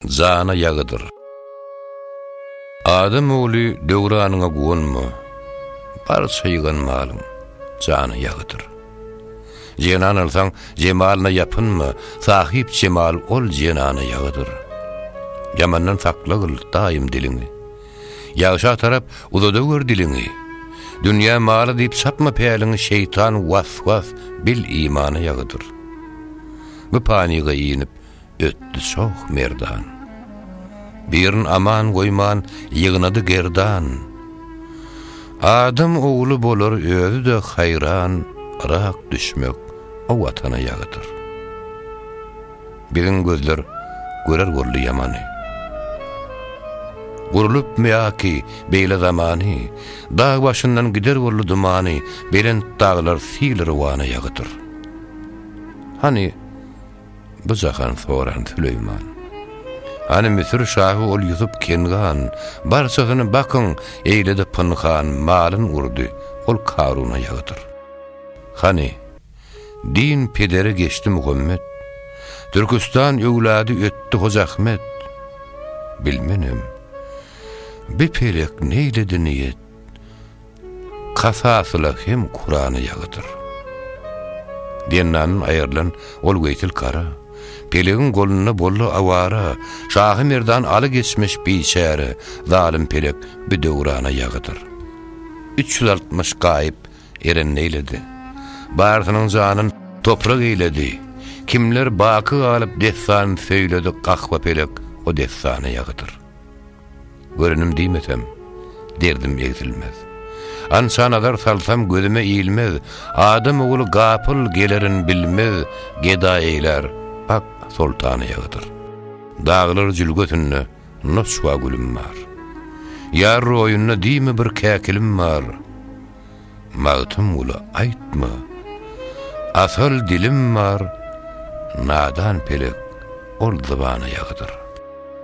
Jana ýagydyr. Adam ogly döwranyňa guwanma, Barça ýygan malyň jana ýagydyr. Jenan alsaň, jemalyna ýapynma, Sahyp jemal ol jenana ýagydyr. Ýamandan sakla gyl daýym diliňi, Ýagşa tarap uzadawer diliňi. Dünýä maly diýip çapma päliňi, Şeýtan was-was bil imana ýagydyr. Bu panyga inip, ötdi çoh merdan. Birin aman goýman ýygnady gerdan. Adam ogly bolar özi-de haýran, Yrak düşmek o watana ýagydyr. Biziň gözler görer boldy ýamany. Gurlup meaki beýle zamany, Dag başyndan gider boldy dumany, Belent daglar sil-rwana ýagydyr. Hany, Bu jahan soran Süleýman. Hany Müsür şahy ol Ýusup Kengan, barçasyny bakyň, eýledi pynhan, malyn urdy, ol Karuna ýagydyr. Hany, din pedere geçdi Muhammet, Türküstan öwlady ötdi Hoja Ahmet. Bilmenem, bi pelek neýledi niýet, Kasasyla hem Kurany ýagydyr. Dennandan aýrylan ol Weýtil kara, Pelegiň golunda boldy awara, Şahy Merdan aly geçmiş biçäre, Zalym pelek bi döwrana ýagydyr. Üç ýüz altmyş gaýyp eren neýledi? Barsynyň janyn toprak eýledi. Kimler baky galyp dessan söýledi Gahwa pelek o dessana ýagydyr. Görenim diýmesem, derdim egsilmez. Ança nazar salsam gözüme ilmez, Adam ogly gapyl gelerin bilmez, Geda eýlär, ak soltan ýagydyr. Daglar jülgesinde noçwa gülüm bar. Ýar roýunda diýme bir käkilim bar. Magtymgula aýtma, asal dilim bar, Nadan pelek ol zybana ýagydyr.